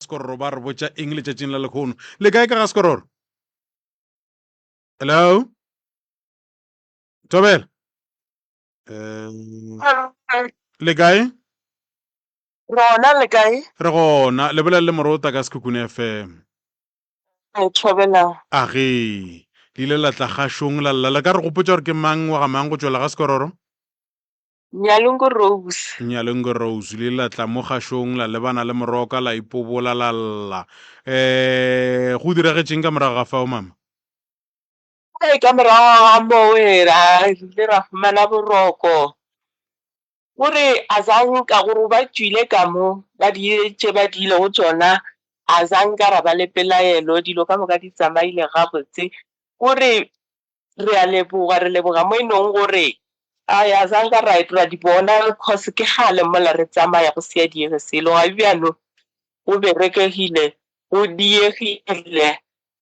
sekororo ba re botša eng letšatšing la lekgono le kae ka ga sekororo hello tobela um, le kae rona le kae re gona le bolela le morota ka sekhukhune fm Ke thobela. A ge. Le ile la tla gašong la lla, le ka re gopotša gore ke mang wa ga mang go tšwela ga Sekororo? Nyalongo Rose. Nyalongo Rose, le ile la tla mo gašong la lebana le Moroka la ipobola la lla. Um, go diragetšeng ka morago ga fao, Mama? Ee, ka morago ga moo re ile ra fumana boroko. O re, Azange ka go re ba tšwile ka mo, ba dirile tše ba diilego tšona, azange ka ra ba le pelaelo, dilo ka moka di tsamaile gabotse. O re, Re a leboga, re leboga mo e nong go re. Ai, azange ka ra ra di bona, cause ke kgale mola re tsamaya go se a diege selo. Ga bjano go berekegile, go diegile,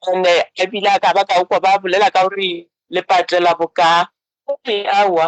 and a bile a ka ba ka kwa ba bolela ka gore le patela boka. O re, Aowa.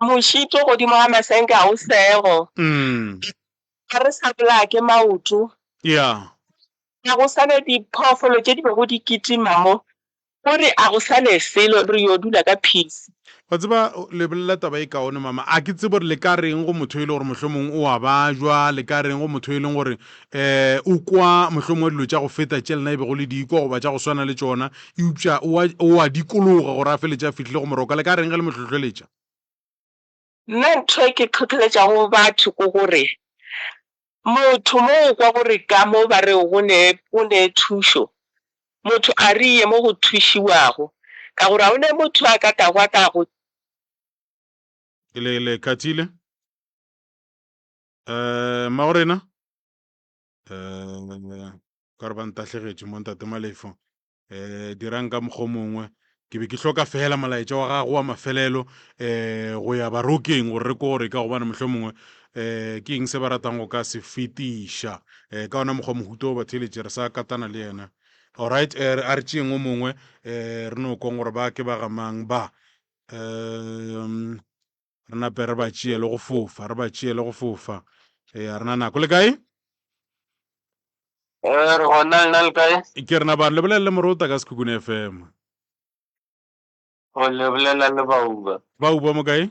Mošito godimo ga masenke ga o sego. Ga re sa bolaya ke maoto. Yeah. Ga go sa ne diphoofolo tše di bego di kitima mo. O re a go sa ne selo, re yo dula ka peace. Wa tseba, le bolela taba e kaone, Mama. A ke tsebe gore le ka reng go motho e le gore mohlomong o a bajwa, le ka reng go motho e leng gore um o kwa mohlomongwe dilo tša go feta tše lena e bego le di kwa goba tša go swana le tšona eupša o a dikologa gore a feletše a fihlile go moroka le ka reng ge le mo hlohleletša Nna ntho e ke tlhotlheletšago batho ke gore motho mo o kwa gore ka mo ba re go ne o ne thušo motho a re ye mo go thušiwago ka gore ga o ne motho a ka tago a ka go le le khathile Um magorena um ka re ba ntahlegetše mo ntate malefo um eh, dirang ka mokgwa mongwe ke be ke hloka fela molaetša wa gago wa mafelelo um go ya barokeng gore re kore ka gobane mohlho mongwe um ke eng se ba ratang go ka se fetiša um ka ona mokgwa mohuto o batheletše re sa katana le yena allright um a re tšeeng o mongwe um re no kong gore ba ke ba gamang ba um re nape re ba tšeele go fofa re ba tšeele go fofa ee a rena nako le kae ee re gona le na le kae ke rena bane lebolelele morota ka sekhukhune fm o lebolela le bauba bauba mo kae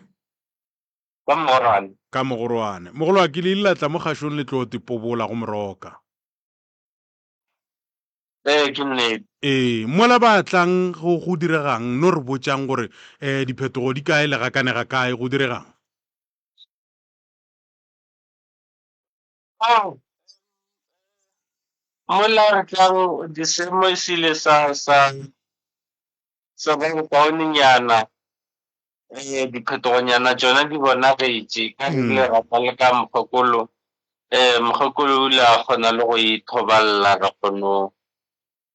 ka mogorwane ka mogorwane mogolo a ke le ile la tla mo kgašong le tlo tipobola go moroka Ee, ke nnete. Ee, mola ba tlang go go diregang, no re botšang gore um diphetogo di kae le ga kane ga kae go diregang? Oh, mola re tlang di semo sile sa sa sa ba bokaonenyana Ee, diphetogonyana tšona di bonagetše ka re bile ra tla le ka mokgokolo um mokgokolo o ile a kgona le go ithobalela re kgono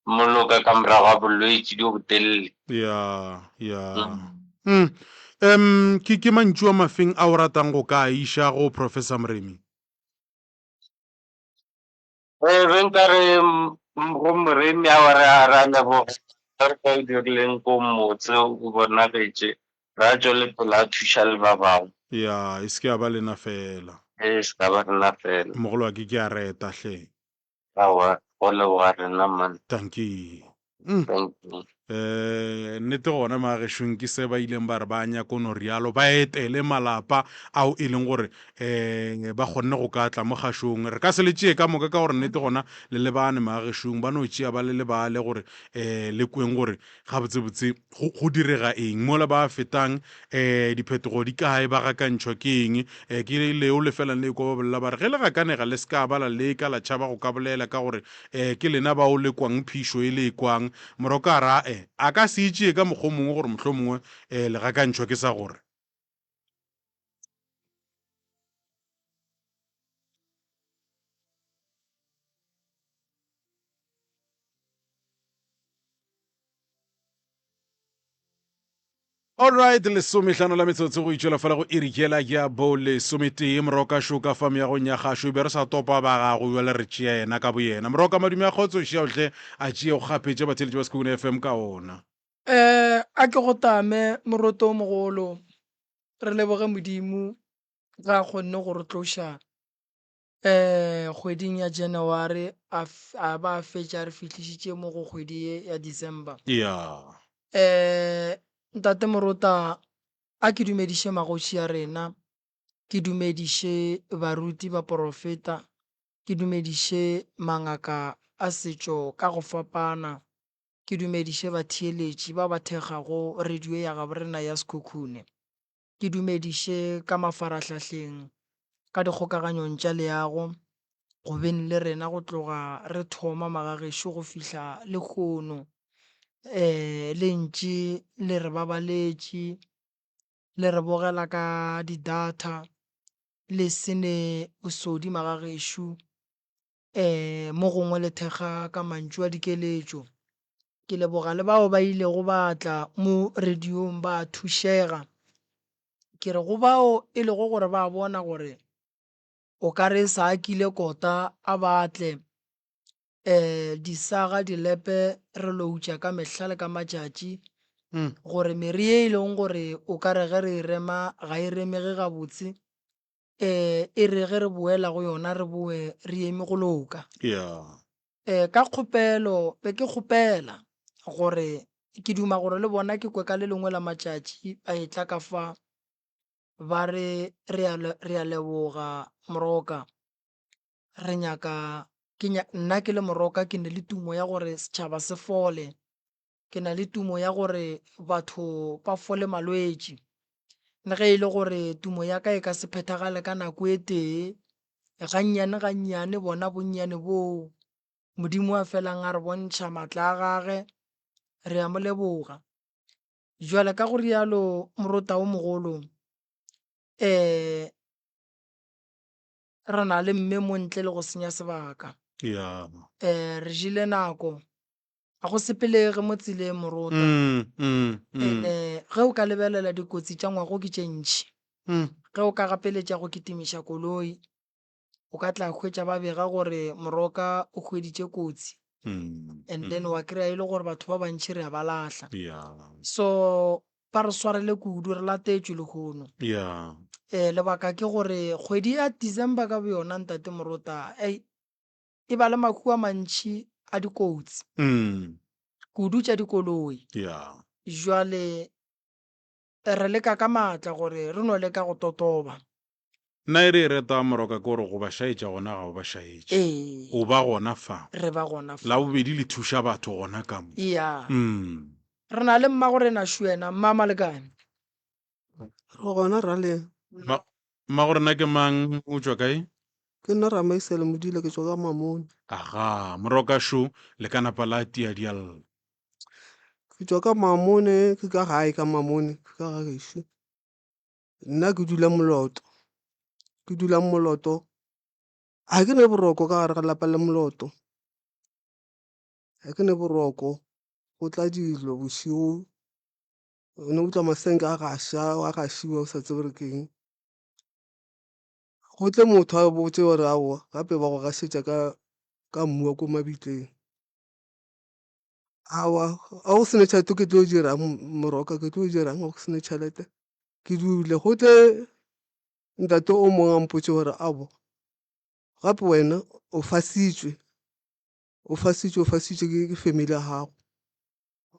moloka ka morago ga bolwetši jo botelele ya ya mm. um ke ke mantšu a mafeng a o ratang go ka a iša go professor moremi Re be nka re go moremi a wa re a ra leboga ka re ka o dirileng ko motse o bonagetše ra tšwa le pele a thuša le ba bangwe. Ya, e se ke ya ba lena fela. E se ka ba rena fela. Mogolo wa ke ke a reta hle. Aowa, go leboga rena mman. Dankie. Mm. Thank you. Eh, nnete gona magešong ke se ba ileng ba re ba nyako no rialo ba etele malapa ao e leng gore um ba kgonne go ka tla mo kgašong re ka se le tšee ka moka ka gore nnete gona le lebane magešong ba no tšea ba le lebale gore um le kweng gore gabotsebotse Go, go direga eng mola ba fetang? E, diphetogo di kae? Ba gakantšhwa ke eng? E, ke leo lefelang le ekwa ba bolela ba re, ge le gakanega le se ka ba la leka la tšhaba go ka bolela, ka gore e, ke lena bao le kwang phišo e le e kwang. Morokara e, a ka se e tšee ka mokgwa o mongwe gore mohlomongwe e, le gakantšhwa ke sa gore. allright lesomehlano la metsotso go itšwela fela go irikela ke ya bo lesometee moroka šoka fa meagong ya gašo e be re sa topa ba gago jale re tšea yena ka boyena moroka madume a kgotso šeaotlhe a tšea go kgapetša batheletši ba sekhukune fm ka ona Eh, a ke go tame moroto o mogolo re leboge modimo ga a kgonne go re tloša eh kgweding ya january a f- a ba a fetša re fihlišitše mo go kgwedi ye ya december ya eh ntate morota a ke dumediše magotši ya rena ke dumediše baruti ba porofeta ke dumediše mangaka a setšo ka go fapana ke dumediše batheeletši ba ba thekgago radio ya gaborena ya Sekhukhune, ke dumediše ka mafarahlahleng, ka dikgokaganyong tša leago, go beng le rena go tloga re thoma magagešo go fihla lehono. Um le ntše le re babaletše, le re bogela ka di-data, le se ne bosodi magagešo, Ee, mo gongwe le thekga ka mantšu a dikeletšo. Ke leboga le bao ba ilego ba tla mo rediong ba thušega. Ke re go bao e lego gore ba bona gore o ka re e sa a kile kota a ba tle, um disaga dilepe re loutša ka mehla le ka matšatši gore mere ye e leng gore o ka re ge re e rema ga e remege gabotse eh, e re ge re boela go yona re boe re eme go loka ya eh, ka kgopelo be ke kgopela gore ke duma gore le bona ke kwe ka le lengwe la matšatši ba e tla ka fa ba re re a le- re a leboga moroka re nyaka ke nya, nna ke le moroka ke ne le tumo ya gore setšhaba se fole Ke na le tumo ya gore batho ba fole malwetši. Le ge e le gore tumo ya ka e ka se phethagale ka nako e tee, gannyane-gannyane bona bonnyane boo Modimo a felang a re bontšha matla a gage, re a mo leboga. Bjale ka go rialo morota o mogolo, re na le mme mo ntle le go senya sebaka. Re jele nako A go sepelege mo tseleng, morotwa. Ene ge o ka lebelela dikotsi tša ngwago ke tše ntši. Ge o ka gapeletša go kitimiša koloi, o ka tla hwetša ba bega gore moroka o hweditše kotsi and then wa kry-a e le gore batho ba bantši re a ba lahla. So ba re swarele kudu, re latetšwe lehono. Um lebaka ke gore kgwedi ya December ka boyona, ntate Morota, ei, e ba le mahu a mantši a dikotsi Mm. kudu tša dikoloi Yeah. jwale re leka ka maatla gore re no leka go totoba Nna e re e reta moroka ke gore go ba šaetša gona ga o ba šaetše. ee O ba gona fa. re ba gona fa La bobedi le thuša batho gona ka mo. ya Mm. re na le mmagorena šwena mma malekane Re gona raleng. Ma, ma gore na ke mang o tšwa kae? Ke nna Ramaisele Modila ke tšwa ka Mamone. Aga, moroka šo le ka napa la tia dialla. Ke tšwa ka Mamone ke ka gae ka Mamone ke ka ga gešo. Nna ke dula Moloto. Ke dula Moloto. Ga ke ne boroko ka gare ga lapa le Moloto. Ga ke ne boroko go tla dilo bošego o ne utlwa masenke a gaša a gašiwa o sa tsebe gore ke eng. Go tle motho a botse gore aowa gape ba go gašetša ka ka mmu wa ko mabitleng. Aowa ga go sena tšhelete ke tlo dirang moroka ke tlo dirang ga go sena tšhelete ke dule. Go tle ntate o mongwe a mpotše gore aowa gape wena o fasitšwe. o fasitšwe o fasitšwe ke ke family ya gago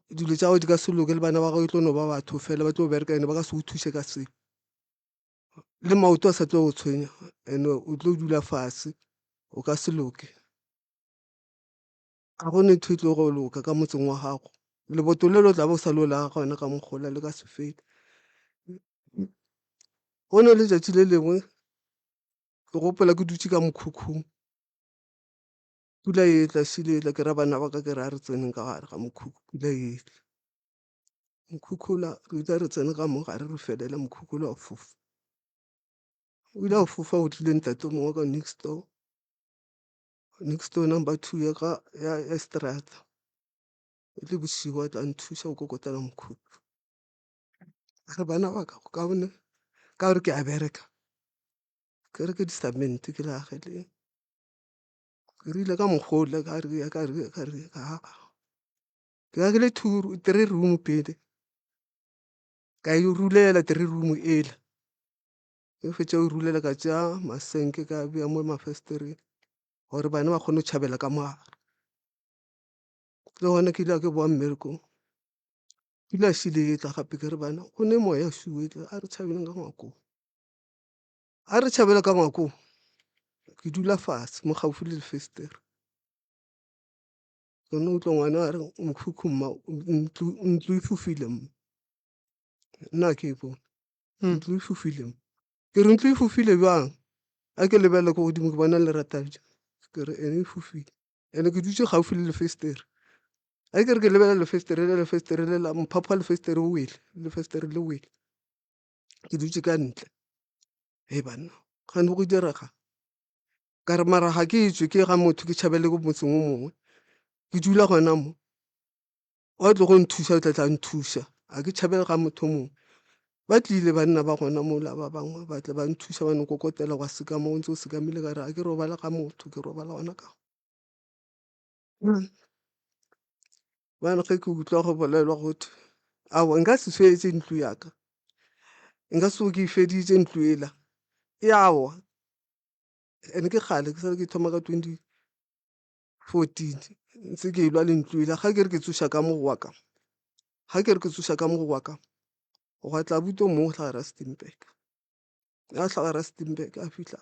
dilo tša gago di ka se loke le bana ba gago e tlo no ba batho fela ba tlo bereka and-e ba ka se go thuse ka sepe le maoto a sa tlo go tshwenya and-e o tlo dula fase o ka se loke ga gone ntho e tlo go loka ka motseng wa gago leboto le le o tla bo o sa le o la gona ka mokgola le ka se fele. Go ne letšatši le lengwe ke gopola ke dutše ka mokhukhung pula e tla sile e tla ke ra bana ba ka ke re a re tseneng ka gare ga mokhukhu pula e tla mokhukhula re ile re tsene ka mo gare re felela mokhukhula o fofa o ile a fofa o tlile ntate mongwe wa ka next door next door number two ya ka ya ya seterata e le bosigo a tla nthuša go kokotela mokhukhu a re bana ba ka go kaone ka gore ke a bereka ke reke di-cement ke le ageleng. ke rile ka mokgwa o le ka re ke ka re ka re aa ke be ke le two three room pele ka e rulela three room e la ge ke fetša go e rulela ka tšea masenke ka beya mo mafesetereng gore bana ba kgone go tšhabela ka mo gare. Le gona ke ile ka ke bowa mmerekong pula e šele e tla gape ke re bana go ne moya o šele o etla a re tšhabeng ka ngwakong. A re tšhabela ka ngwakong ke dula fatshe mo gaufi le lefestere ke no utlwa ngwana a re mokhukhu mma ntlo ntlo e fofile mma nna ke e bone ntlo e fofile mma ke re ntlo e fofile jwang a ke lebelele ko godimo ke bona lerata ja ke re ene e fofile ene ke dutse gaufi le lefestere a ke re ke lebelela lefestere le lefestere le la mphapha lefestere o wele lefestere le wele ke dutše ka ntle he banna gane go direga ka re mara ga ke etswe ke ga motho ke tšhabele ko motseng o mongwe ke dula gona mo wa tlo go nthusa o tla tla nthusa ga ke tšhabele ga motho o mongwe ba tlile banna ba gona mola ba bangwe ba tle ba nthusa ba nkokotela gwa seka mo o ntse o sekamele ka re ga ke robala ga motho ke robala gona ka go Bjale ge ke utlwa go bolelwa gotwe aowa nka se swetse ntlo ya ka, nka se tsoge ke e feditše ntlo ela e a wa and-e ke kgale ke sa le ke thoma ka twenty fourteen ntse ke e lwa le ntlo ela. Ga ke re ke tsoša ka mo go wa ka, ga ke re ke tsoša ka mo go wa ka gwa tla abuti o mongwe o tla Rustenburg, ga tla Rustenburg a fitlha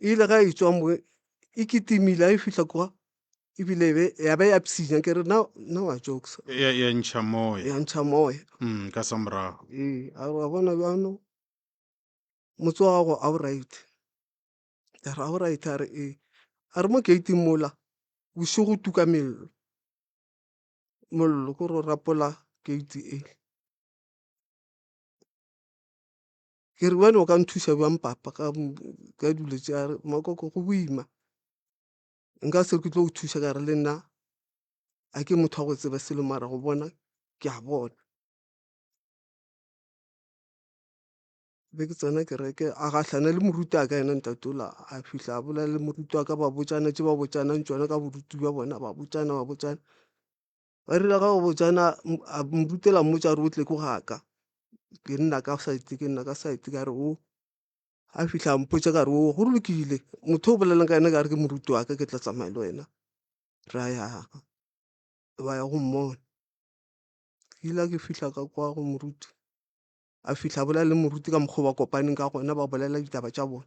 e ile ga e tswa mo e kitimile a e fihla kwa ebile e be- ya be ya psinya ke re na na wa jokesa ya ya ntšha moya ya ntšha moya Mm, ka sa morago ee a re wa bona bjano motse wa gago a o right ka re a o right a re ee a re mo gating mola bošego tuka mello mollo ko re o rapola gate e Ke re, Bjale o ka nthuša bjang papa ka, ka dilo tše? A re, Makoko go boima, nka se re ke tlo go thuša ka re le nna ga ke motho wa go tseba selo mara go bona ke a bona. Be ke tsena kereke, a gahlana le moruti wa ka yena ntate o la, a fihla a bolela le moruti wa ka ba botšana tše ba botšanang tšona ka boruti bja bona, ba botšana ba botšana. Ba rile ga o botsa na a morutela mmotsa a re o tle ko ga ka ke nna ka side ke nna ka side ka re o a fitlha a mpotsa ka re o go lokile motho o bolelang ka ena ka re ke moruti wa ka ke tla tsamaya le wena ra ya ba ya go mmona. Ke ile a ke fitlha ka kwa go moruti a fitlha a bolela le moruti ka mokgwa o ba kopaneng ka gona ba bolela ditaba tša bona.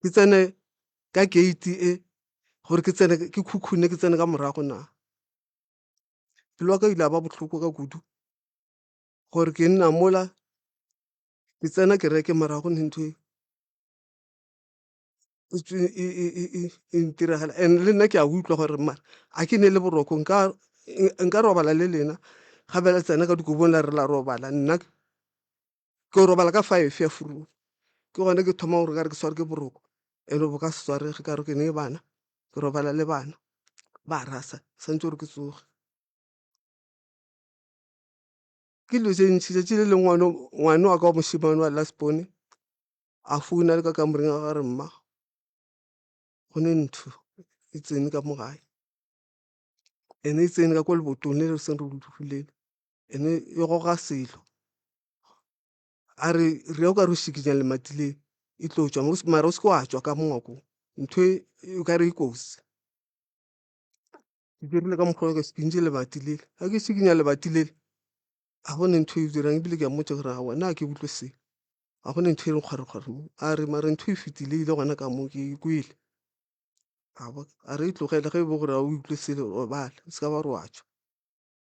ke tsene ka gate e gore ke tsene ke khukhune ke tsene ka morago na? Pelo yaka e ile ya ba bohloko ka kudu gore ke nna mola ke tsena kereke morago ne ntho e e ntiragala and-e le nna ke a utlwa gore mare a ke ne le boroko nka robala le lena ga be la tsena ka dikobong la re la robala nna. Ke yo robala ka five ya furula ke gona ke thoma gore kare ke tshware ke boroko and bo ka se tshwarege ka gore ke ne bana ke robala le bana ba rasa santse gore ke tsoge. Ke dilo tse ntšhi 'tsatsi le lengwe ngwana o ngwana wa ka wa mošemane wa last born a founa le ka kamoreng ya gagwe a re mma go ne ntho e tsene ka mo gae ene e tsene ka ko lebotong le re seng re le dulele. e ne e goga selo a re re ya o ka re o šikinya lemati le e tlo tšwa mo mare o se ke wa tšwa ka mongwako ntho e o ka re e kotsi ke dirile ka mokgwa o ka se pinte lebati le ga ke šikinya lebati le ga gone ntho e dirang ebile ke a mmotša gore aowa nna ga ke utlwe se ga gone ntho e re kgwarokgwaro mo a re mare ntho e fetile e ile gona ka moo ke e kwele a re e tlogele ge e be gore ga o utlwe selo robala o se ka ba re wa tšwa.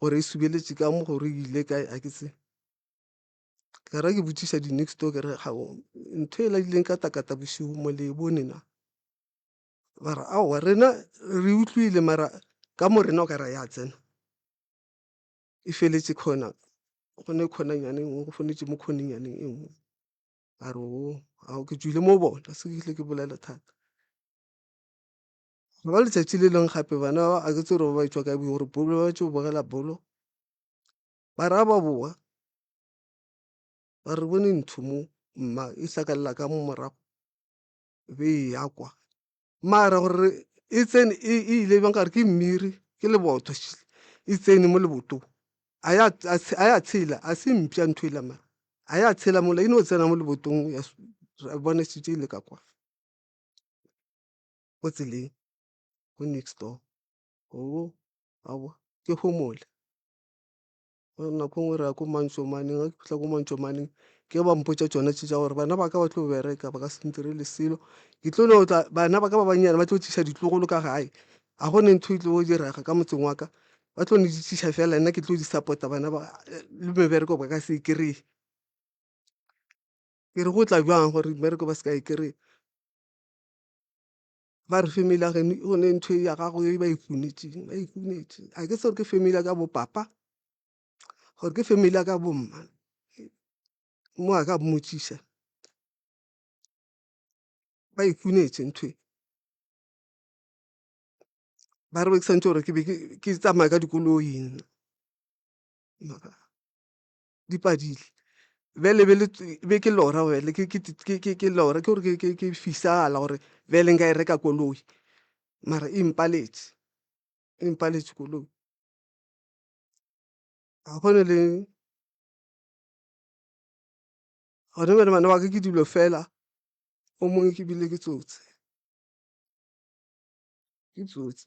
gore e subeletše ka mo gore e ile kae a ke tsebe. Ka re ke botšiša di next door ke re ga ntho e la ileng ka takata bošego mo le e bone na ba re aowa rena re utlwile mara ka mo rena o ka re ya tsena e feletše khona go ne khonanyane e nngwe go founetše mo khonenyaneng e nngwe a re oo ao ke tšwile mo bona se ke fihle ke bolela thata. Go ba letšatši le leng gape bana ba a ke tsebe gore ba e tšwa kae bo gore bolo ba tšo bogela bolo ba re ha ba boa ba re bone ntho mo mma e hlakalela ka mo morago be e ya kwa mara gore e tsene e ile bjang ka re ke mmiri ke lebotho šele e tsene mo lebotong a ya a ya tshela a se mpša ntho e la mara a ya tshela mola e no tsena mo lebotong ya re bonesitše e le ka kwa. ko tseleng ko next door gomme a bo ke homole gore nako nngwe re ya ko mantšomaneng ga ke fitlha ko mantšomaneng ke ba mpotša tsone tše tša gore bana ba ka ba tlo bereka ba ka se ntirele selo ke tlo no tla bana ba ka ba bannyane ba tlo tliša ditlogolo ka gae ga gone ntho e tlo direga ka motseng wa ka ba tlo no di tliša fela nna ke tlo di support-a bana ba le mebereko ba ka se e kry-e ke re go tla jwang gore mmereko ba se ka e kry-a. ba re family ya geno gone ntho ya gago e ba e kunetseng ba e kunetse a ke se gore ke family ya ka bo papa gore ke family ya ka bo mma mo a ka mmotšiša ba e kunetse ntho e ba re ke be ke tsamaya ka dikoloi nna . di padile bjale e be le e be ke lora bjale ke ke ke ke ke lora ke gore ke ke ke fisala gore bjale nka e reka koloi mara e mpaletše e mpaletše koloi ga gone le gona bjale bana ba ka ke dilo fela o mongwe ke bile ke tsotsi ke tsotsi .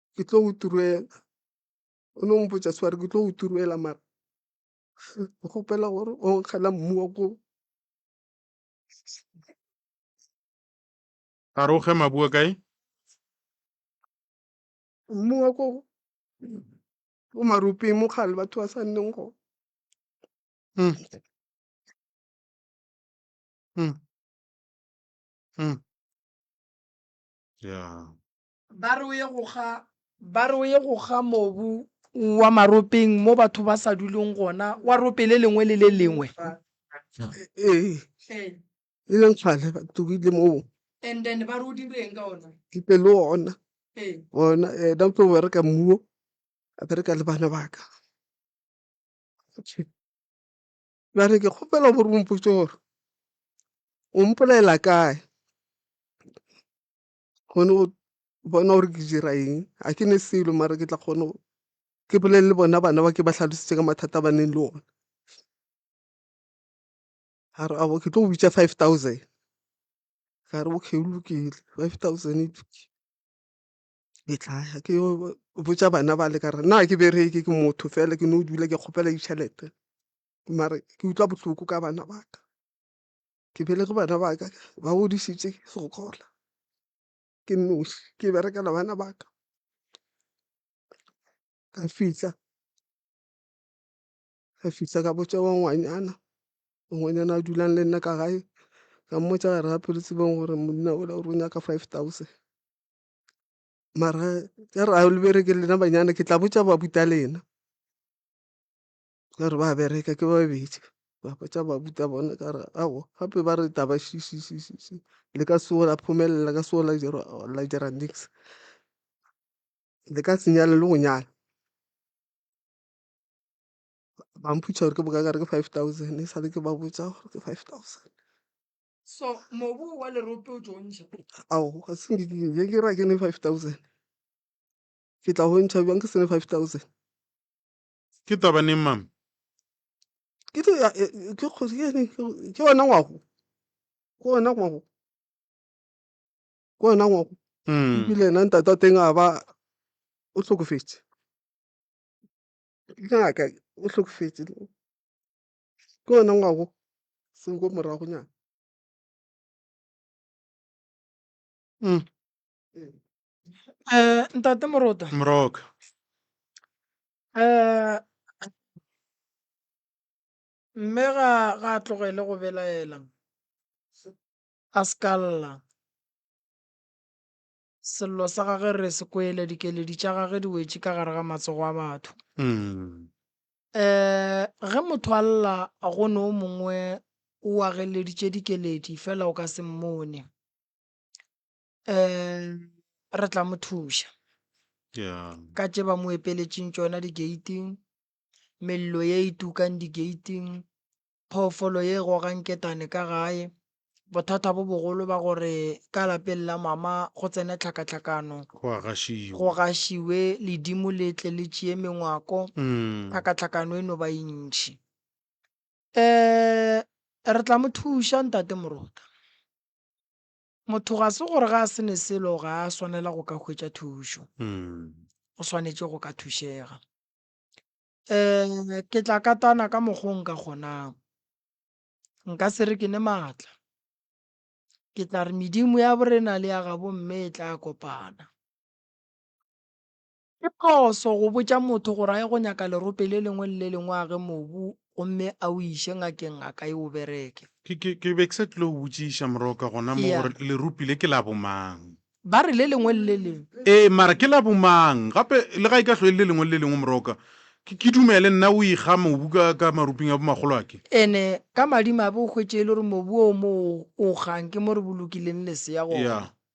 ke tlo go turela o no mpotsa sware ke tlo go turela mara ke kgopela gore o nkgela mmu wa ko a re o ge mabua kae mmu wa ko ko maropeng mo kgale batho ba sa nneng go Mm. Mm. Mm. ya Ba re o ye go kga. Ba re o ye go kga mobu wa maropeng mo batho ba sa duleng gona, wa rope le lengwe le le lengwe. Ee. Hle. E le nkgale ba tugile moo. And then ba re o direng ka ona? Ke tle le ona. Ee. Ona ena o tlo bereka mmuo, a bereka le bana ba ka. Ba re ke kgopela gore o mpotše gore o mpolelela kae. kgone go bona gore ke dira eng ga ke ne selo mara ke tla kgone go ke bolele le bona bana ba ke ba tlhalosetse ka mathata a ba neng le ona a re abo ke tlo go bitsa five thousand ka re okay go lokile five thousand e lokile ke tla ya ke yo botsa bana bale ka re nna ga ke bereke ke motho fela ke no dula ke kgopela ditšhelete mare ke utlwa bohloko ka bana ba ka ke belege bana ba ka ba godisitše segola ke noši ke berekela bana ba ka ka fihla ka fihla ka botša wa ngwanyana ngwanyana a dulang le nna ka gae ka mmotsa gare ga pelo tsebeng gore monna ola o re o nyaka five thousand mara ka re a le bereke lena banyana ke tla botša ba buta lena ka re ba bereka ke babedi ba botša babuta bone ka re aowa gape ba re taba le ka se o la phomelela le ka se o la dira la dira nix le ka se nyale le go nyala. Ba mpotšiša gore ke bokae ka re ke five thousand e sa le ke ba botša gore ke five thousand. Aowa ga se nke ke ra ke ne five thousand ke tla o ntšha bjang ke se ne five thousand. ke taba neng mama ke tlo ya- e- e- ke kgosi ke eng? Ke- ke wena ngwago ke wena ngwago ke wena ngwago Mm. ebile ena ntate wa teng a ba o hlokofetse ke ngaka o hlokofetse ke wena ngwago seng ko moragonyana Mm. um ntate morota moroka um mme ga ga a tlogele go belaela a se ka lla sello sa gage re se kwele dikeledi tša gage di wetše ka gare ga matsogo a batho Mm. um ge motho a lla go ne o mongwe o ageleditše dikeledi fela o ka se mmone um re tla mo thuša Yeah. ka tše ba mo epeletšeng tšona digating mello ye e tukang digating phoofolo ye e gogang ketane ka gae bothata bo bogolo ba gore ka lapeng la mama go tsene tlhakatlhakano Go a gašiwa. go gašiwe ledimo le tle le tšee mengwako Mm. tlhakatlhakano e no ba e ntšhi um re tla mo thuša ntate morota Motho ga se gore ga a se ne selo ga a swanela go ka hwetša thušo. O swanetše go ka thušega. Um ke tla katana ka mokgwa o nka kgonang. Nka se re ke ne maatla. Ke tla re medimo ya borena le ya gabomme e tla kopana. Ke phoso go botša motho gore a ye go nyaka lerope le lengwe le le lengwe a ge mobu gomme a o iše ngakeng a ka e o bereke. Ke, ke, ke be ke sa tlile go botšiša moroka gona mo Eya. gore leropi le ke la bomang. Ba re le lengwe le le lengwe. Ee, mara ke la bomang? Gape, le ga e ka hlwa e le le lengwe le le lengwe, moroka, ke, ke dumele nna o ikga mobu ka, ka maruping a bomakgolo a ke. Ene, ka madimabe o hwetše e le gore mobu o mo o, o kgang ke mo re bolokileng lesea gona. Eya.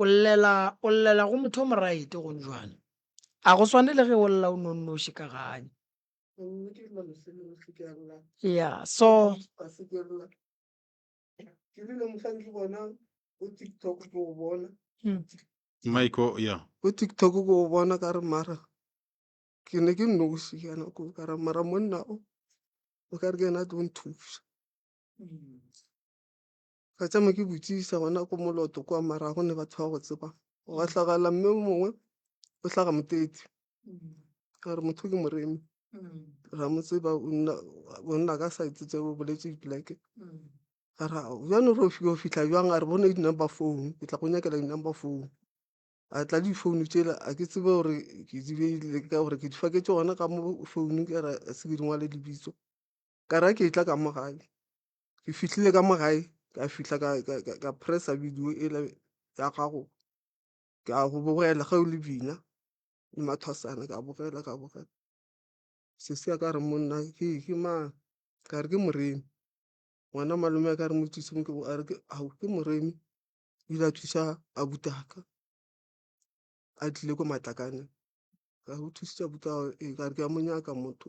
o llela o llela go motho o moraete gonjwana a go swane le ge o lla o nonnoši ka ganye ya so hmm. maiko ya ko tiktok ko o bona ka re mara ke ne ke nnoši ka nako ka ra mara monna o o ka re ke ena tlo nthuša hmm. ka tsama ke botsisa gona ko moloto kwa mara go ne batho ba go tseba gwa tlagala mme o mongwe o tlhaga motete a re motho ke moremi ra mo tseba o nna o nna ka sa itse tseo o boletse dipoleke a ra bjano re o fitlha jwang a re bone di-number phone ke tla go nyakela di-number phone a tla di phone tsela a ke tsebe gore ke di beile ka gore ke di faketse gona ka mo founung ka ra se ke di ngwale lebitso ka ra ke e tla ka mo gae ke fihlile ka mo gae ka fihla ka press-a video e le ya gago ke a go bogela ge o le bina le mathwasana ka bogela ka bogela sesi a ka re monna ke ke mang ka re ke moremi ngwana malome a ka re mo thuse mo ke a re ke ao ke moremi o ile a thusa abuti wa ka a tlile ko Matlakane ka re o thusitse abuti wa gago ee ka re ke a mo nyaka motho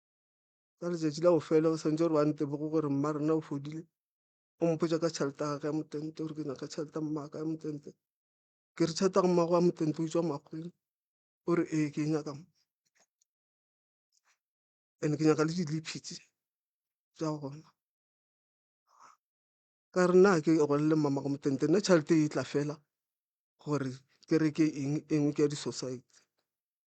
ka letšatši la bofelo o swantse gore ba ntemoge gore mma rena o fodile o mpotsa ka tšhelete ya gage ya motente gore ke nyaka tšhelete ya mmaka ya motente ke re tšhelete ya mmago wa motente o tswa makgweng o re ee ke e nyaka mma and ke nyaka le diliphi tse tsa gona ka re nna ke golle mmamago motente nna tšhelete e tla fela gore ke reke eng e nngwe ke ya di-society.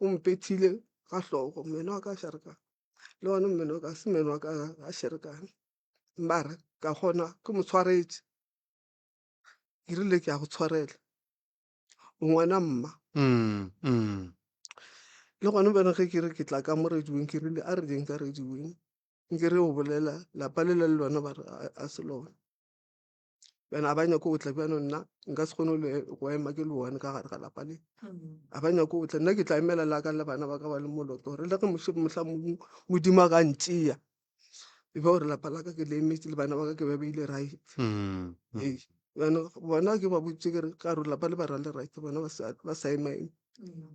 o mpethile ga hloko mmeno wa ka sherekane le one mmeno wa ka se mmeno wa ka a sherekane mara ka kgona ke mo tshwaretše ke rile ke ya go tshwarela o ngwana mma le gone bjana ge ke re ke tla ka mo radiong ke rile a re jeng ka radiong nke re o bolela lapa lela le lona ba re a se lona bjana ga ba nyako go tla bjano nna nka se kgone go ema ke le one ka gare ga lapa le ga ba nyako go tla nna ke tla emela la ka le bana ba ka ba le moloto gore le ge mohla mongwe modimo a ka ntsea e be gore lapa la ka ke le emetse le bana ba ka ke ba beile right ee jaanong bona ke ba boditse kere ka gore lapa le ba ra le right bona ba sa ema eme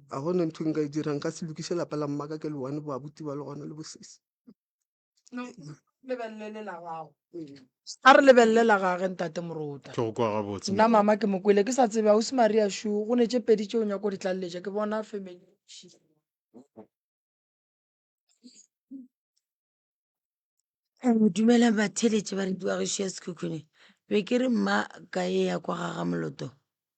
ga gone ntho e nka e dirang nka se lokise lapa la mmaka ke le one bo abuti ba le gona le bosesi. a re lebelele la gage ntate morota nna mama ke mokwele ke sa tsebe ga o se maria shu go ne tše pedi tšeo nyako di tlaleletša ke bona family dumelang batheletše ba rediwa gešo ya sekhukhune be ke re mma ka e ya kwa gaga moloto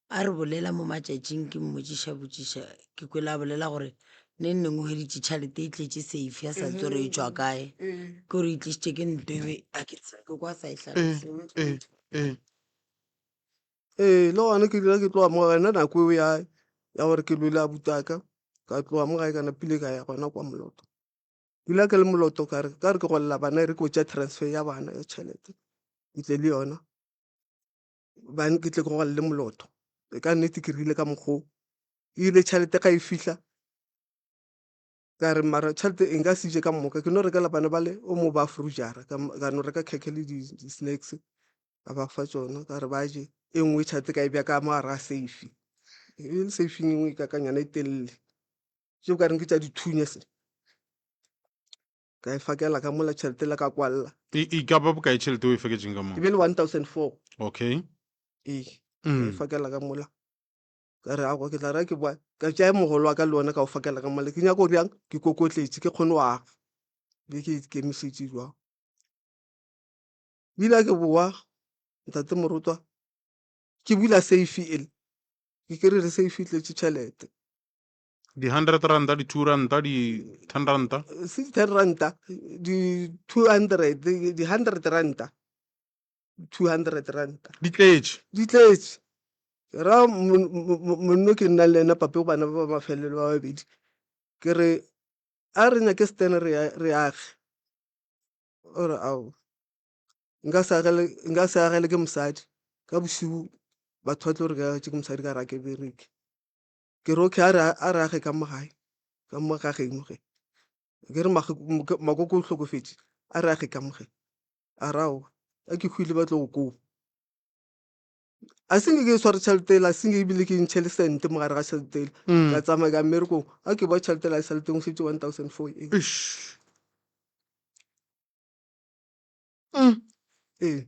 a re bolela mo matšatšing ke mmotšiša botšiša ke kwele a bolela gore ne nneng o hweditše tšhalete e tletše safe a sa tse re e tswa kae ke gore e tlisitše ke nto ebe a ke tsebe kwa sa e tlhaloseng ee le gona ke dira ke tloga mo gae nna nako eo ya ya gore ke lwele abutaka ka tloga mo gae kana pile ka ya gona kwa moloto dula ke le moloto kare kare ke golela bana e re ke botša transfer ya bana ya tšhelete ke tle le yona bane ke tle ke gogale le molotho e ka nnete ke rile ka mokgoo ile tšhelete ga e fihla ka re mara tšhelete e nka se je ka moka ke no rekela bana ba le o mo ba frujara ka no reka khekhe le di-snacks ka ba fa tsona ka re ba je e nngwe tšhelete ka e bja ka mo gare ga safe e le safing e nngwe e kakanyana e telele tšeo ka reng ke tša dithunya se ka e fakela ka mola tšhelete la ka kwalla e e ka ba bokae tšhelete o e feketseng ka e moo be le 1004 okay ee ka e mm. fakela ka mola ka re ako ke tla ra ke bwa ka tšae mogolo wa ka le ona ka o fakela ka mola ke nyako bjang ke kokotletše ke kgone wa be ke ikemišetše jwang bile ke bowa ntate morutwa ke bula safe ele ke kry-re safe e tletše tšhelete di-hundred ranta di-two ranta di-ten ranta six ten ranta di-two hundred di-hundred ranta two hundred ranta di tletše di tletše ra monno ke nna le ena pape go bana ba ba mafelelo ba babedi ke re a re nyake stene re ya- re age o re ao nka se agele- nka se agele ke mosadi ka bosibu batho ba tlo re ke agetše ke mosadi ka ra ke bereke ke re okay a re a re age ka mo gae ka mo gageng mo ge ke re mage- mo- ke- makoko o hlokofetše a re age ka mo ge a re aowa a ke hwile ba tlo go koba a se nke ke e sware tšhelete ele a se nke ebile ke e ntšhe le sente mo gare ga tšhelete ele Mm. ka tsamaya ka mmerekong a ke boa tšhelete ele a e saleteng o šetše one thousand four ee Eish. Mm. ee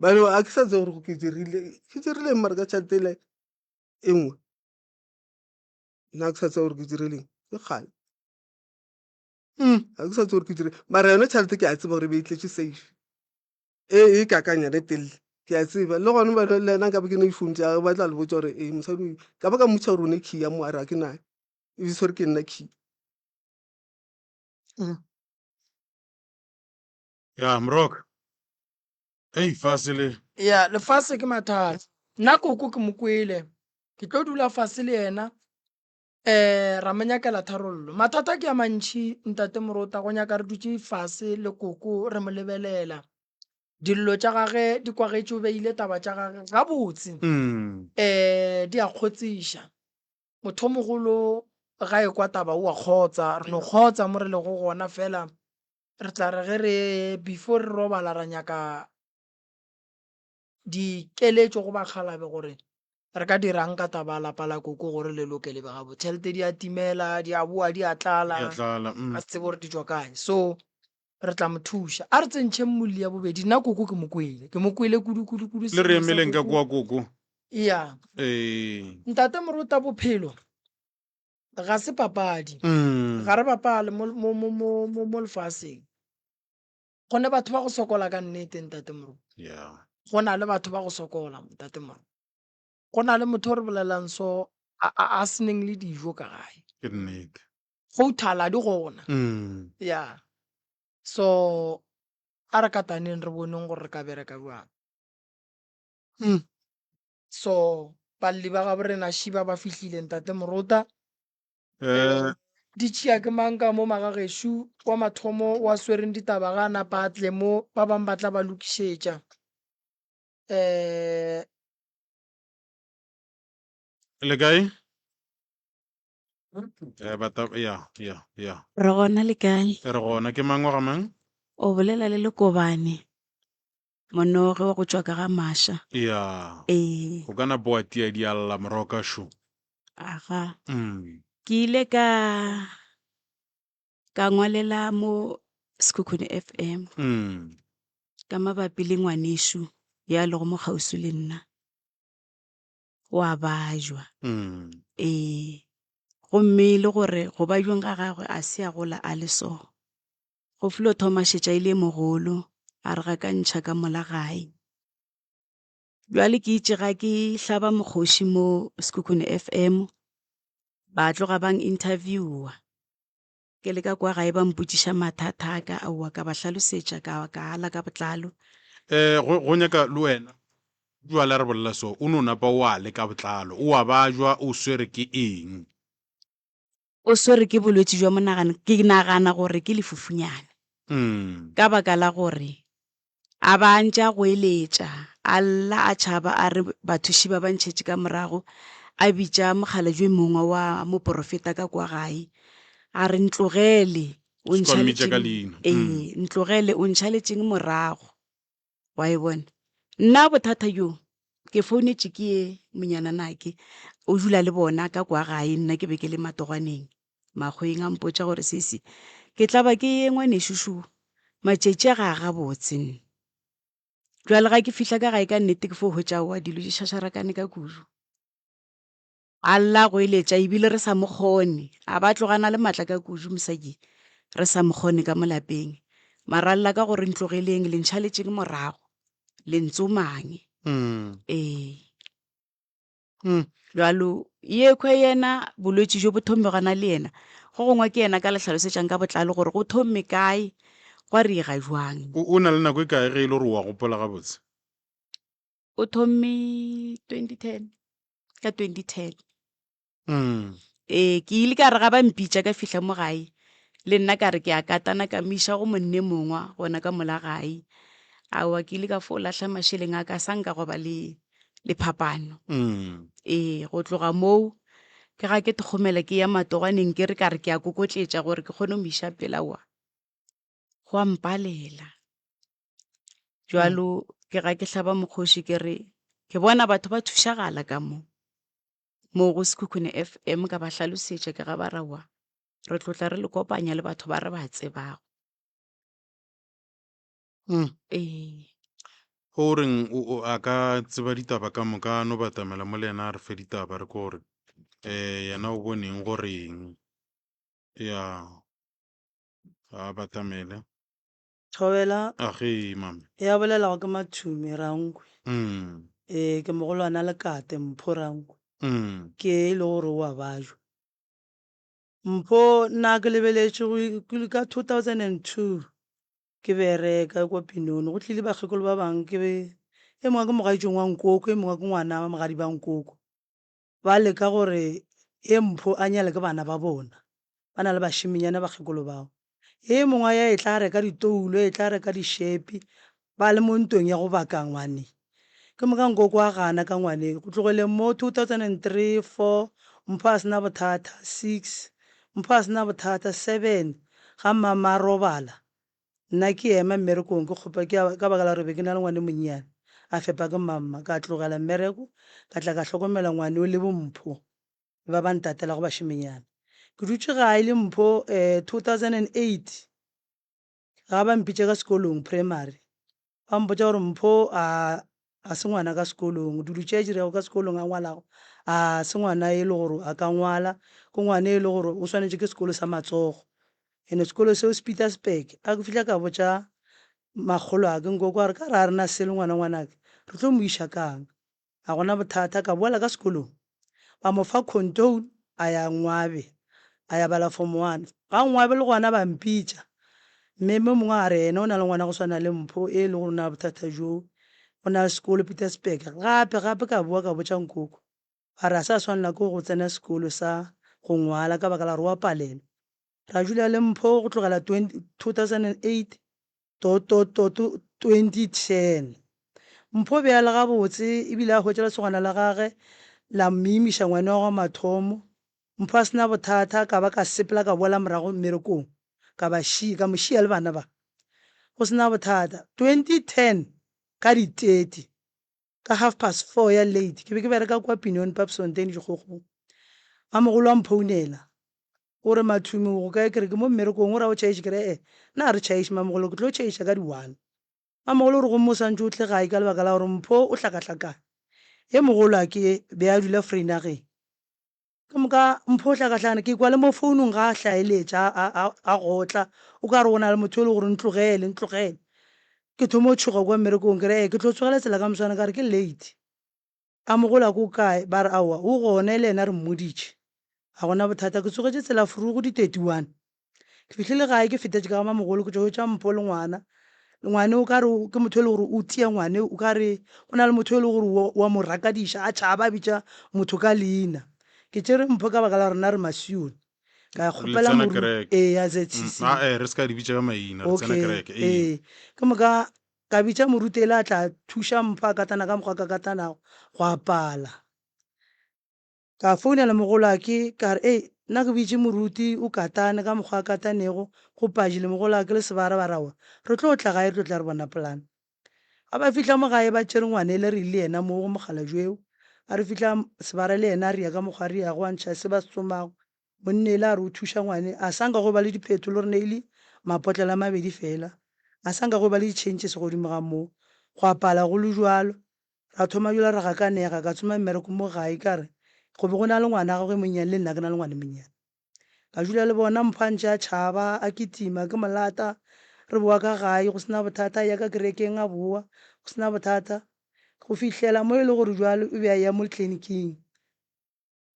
bane a ke sa tse gore ke dirile ke dirile mare ka tšhelete ele e nngwe nna ke sa tse gore ke direleng ke kgale ga ke sa tse gore ke dire mara yone tšhelete ke a tseba gore e be e tletše safe e e kakang yone telele ke a tseba le gone bana le yena nkabe ke ne difounu tsa gage ba tla le botsa gore ee mosadi oyo ka ba ka mmotsa gore o ne key ya mo a re ga ke nayo e bitsa gore ke nna key Ya, Mrok. Ei, fase le. Ya, lefase ke mathata. Nna koko ke mo kwele. Ke tlo dula fase le yena. Eh, ra mo nyakela tharollo. Mathata ke ya mantši, ntate Morota, go nyaka re dutše fase le koko re mo lebelela. Dillo tša gage di kwagetše o beile taba tša gage gabotse. Mm. Eh, di a kgotsiša. Motho o mogolo ga e kwa taba o a kgotsa, re no kgotsa mo re lego gona fela. Re tla re ge re, before re robala ra nyaka dikeletšo go bakgalabe gore re ka dirang ka taba lapa la koko gore le loke le be gabo tšhelete di a timela di a boa di a tlala ya tlala mm. a se tsebe gore di tšwa kae so re tla mo thuša a re tsentšheng molli ya bobedi nna koko ke mo kwele ke mo kwele kudukudukudu le re emeleng ka kwa koko ya ee ntate morota bophelo ga se papadi mm. ga re bapale mo lefaseng go ne batho ba go sokola ka nnete ntate moro go na le batho ba go sokola ntate moro go na le motho o re bolelang so a seneng le dijo ka gae go thala di gona mm. ya so a re kataneng re boneng gore re ka bereka jwang hmm. So, balli ba gabo rena Shiba ba fihlile, Ntate Morota. Eh, Di tšea ke mang ka mo magagešu wa mathomo wa swereng ditaba ga a napa a tle mo, ba bang ba tla ba lokišetša. Eh, le kae? Eh, bata, ya, ya, ya. Re gona le kae? E re gona, ke mang wa ga mang? O bolela le Lekobane. Monoge wa go tšwa ka ga maša. Ya. Ee. Go ka na boa tia di a lla moroka šo. Aga. Mm. Ke ile ka ka ngwalela mo Sekhukhune FM. Mm. Ka mabapi le ngwanešu ya lego mo kgauswi le nna. Wa bajwa. Mm. Ee. Gomme e le gore go bajweng ga gagwe a se a gola a le so. Go f'lo thoma šetša e le e mogolo, a re ga ka ntšha ka mola gae. Bjale ke itše ga ke hlaba mokgoši mo Sekhukhune FM, ba tloga bang interviewa. Ke le ka kwa gae ba mpotšiša mathata a ka, aowa ka ba hlalosetša ka, ka ala ka botlalo. Eh, go, go nyaka le wena. Bjale a re bolela so, o no napa o ale ka botlalo, o a bajwa o swere ke eng. o swere ke bolwetši jwa monagano, ke nagana gore ke lefufunyane Mm. ka baka la gore a ba a ntše a goeletša a lla a tšhaba a re bathuši ba ba ntšhetše ka morago a bitša mokgalajwe mongwe wa moporofeta ka kwa gae a re ntlogele o Seka ntšha mmitša ka letšeng- leina." Mm. ee ntlogele o ntšha letšeng morago Wa e bona? Nna bothata bjo, ke founetše ke ye monyananake, o dula le bona ka kwa gae, nna ke be ke le matogwaneng, Makgweng. A mpotša gore, Sisi, ke tla ba ke ye ngwanešu šo, matšatši a ga a gabotse nna. Bjale ga ke fihla ka gae, ka nnete ke fo hwetša aowa dilo di šašarakane ka kudu. A lla a goeletša, ebile re sa mo kgone. A ba tloga a na le matla ka kudu, mosadi, re sa mo kgone ka mo lapeng. Mara a lla ka go re, Ntlogeleng, le ntšhaletšeng morago. Le ntsomang. Ee. Bjalo, yekhwi yena, bolwetši bjo bo thomile gona le yena. Go gongwe ke yena a ka le hlalosetšang ka botlalo gore go thomile kae, gwa riega bjang. O, o na le nako e kae ge e le gore o a gopola gabotse? o thomme 2010 ka 2010 Mm. ee ke ile ka re ga ba mpitša ka fihla mo gae le nna ka re ke a katana ka mo iša go monne mongwa gona ka mola gae aowa ke ile ka fo lahla mašeleng a ka sa nka go ba le le phapano Mm. ee go tloga moo ke ga ke thogomela ke ya matoganeng ke re ka re ke a kokotletša gore ke kgone go mo iša pela wa gwa mpalela jalo ke ga ke hlaba mokgoši ke re ke bona batho ba thušagala ka mo mo go sekhukhune f m ka ba hlalosetša ke ga ba rawa re tlotla re le kopanya le batho ba re ba tsebago mm. ee o reng o a ka tseba ditaba ka moka no batamela mo le yena a re fe ditaba re ko gore um yena o boneng goreng ya ga a batamele thobela a ge mame e a bolelago ke mathume rankwe mm. ee ke mogolwana le kate mpho rankwe mm. ke e le gore o a bajwa mpho nna ke lebeletše ka 2002 ke bereka kwa pinone go tlile bakgekolo ba bangwe ke e mongwe ke mogaitšong wa nkoko e mongwe ke ngwana wa mogadi ba nkoko ba leka gore ye mpho a nyale ke bana ba bona, ba na le bašiminyane bakgekolo bao. Ye mongwe a ya e tla reka ditoulo, e tla reka dišepi, ba le mo ntong ya go baka ngwane. Ke moka nkoko a gana ka ngwane. Go tlogeleng moo, 2003, 4, Mpho a se na bothata, 6, Mpho a se na bothata, 7, Ga mmama a robala, Nna ke ema mmerekong ke kgopa ke ka baka la gore be ke na le ngwane monnyane a fepa ke mamma ka tlogela mmereko ka tla ka hlokomela ngwane o le bo Mpho le ba ba ntatelago bašemenyana ke dutše gae le Mpho um 2008 ga ba mpitša ka sekolong primary Ba mpotša gore, Mpho, a ga se ngwana ka sekolong? Dulutšetši re ya go ka sekolong a ngwalago? A ga se ngwana e le gore a ka ngwala? Ke ngwana e le gore o swanetše ke sekolo sa matsogo. Ene sekolo seo se Pietersburg. A ke fihla ka botša makgolo a ke, Nkoko a re ka re ga re na selo ngwana ngwanake, re tlo mo iša ka'ng? Ga go na bothata, ka boela ka sekolong. Ba mo fa khontoun, a ya Nngwabe, a ya bala Form One. Ka Nngwabe le gona ba mpitša. Mme mo mongwe a re ene o na le ngwana go swana le Mpho e le gore o na le bothata bjo, o na le sekolo Pietersburg. Gape, gape ka boa ka botša nkoko. Ba re a sa swanela ke go tsena sekolo sa go ngwala ka baka la gore o a palelwa. Ra dula le Mpho go tlogela 2008. 2010. Mpho o be a le gabotse e bile a hwetša lesogana la gage la mmiimiša ngwana wa mathomo. Mpho a se na bothata ka ba ka sepela ka boela morago mmerekong ka ba šia, ka mo šia le bana ba. Go se na bothata. 2010 ka di 30. ka half past four ya late ke be ke bereka kwa Pinion Pub Sonteni Dikgokgong. Mamogolo a mphounela o re, Mathumi o go kae? Ke re, Ke mo mmerekong. O re, A o tšhaiše? Ke re, E-e, nna ga re tšhaiše Mamogolo, ke tlo tšhaiša ka di one. Mamogolo o re, Gomme o swantše o tle gae ka lebaka la gore Mpho o hlakahlakane. Ye mogolo a ke be a dula Vrynagheng. Ka moka Mpho o hlakahlakana, ke kwa le mo founung ga a hlaeletša, a, a, a gotla, o ka re go na le motho yo le gore ntlogele, ntlogele. Ke thoma go tšhoga kwa mmerekong, ke re, Ee, ke tlo tsogela tsela ka moswane, ka re ke late. A mo gola ko kae? Ba re, Aowa, o gona e le yena re mmoditše. A go na bothata, ke tsogetše tsela furu go di 31. ke fihlile gae ke fetetše ka gama mogolo ke tšo tša mpo le ngwana ngwane o kare ke motho e le gore o tia ngwane o kare go na le motho e le gore wa mo rakadiša a tšhaba a bitša motho ka leina ke tšere mpho ka baka la gore na re masione ka kgopela ee a zcc mm, eh, re se ka di bitša ka maina re tsena kereke ee ke moka ka bitša morutele a tla thuša mpho a katana ka mokgwa ka katanago go apala Ka founela mogolwake ka re, Ei, nna ke bitše Moruti o katane ka mokgwa a katanego, go Paji le mogolwake le sebarabara wa, re tlo tla gae re tlo tla re bona polane. Ga ba fihla mo gae ba tšere ngwane le re le yena moo go mokgalabje yo. A re fihla sebara le yena a ria ka mokgwa a riago a ntšha se ba se tsomago. Monnele a re o thuša ngwane, a sa nka go ba le diphetolo re neile mapotlelo a mabedi fela. A sa nka go ba le di-changes godimo ga moo. Gwa pala go le bjalo. Ra thoma bjalo re gakanega, ka tshuma mmereko mo gae ka re go be go na le ngwana gagwe e monnyane le nna ke na le ngwana e monnyane. Ka dula le bona, Mpho a ntše a tšhaba, a kitima, ke mo lata, re bowa ka gae go se na bothata, a eya ka kerekeng a bowa go se na bothata go fihlela mo e le gore bjale o be a eya mo tliliniking.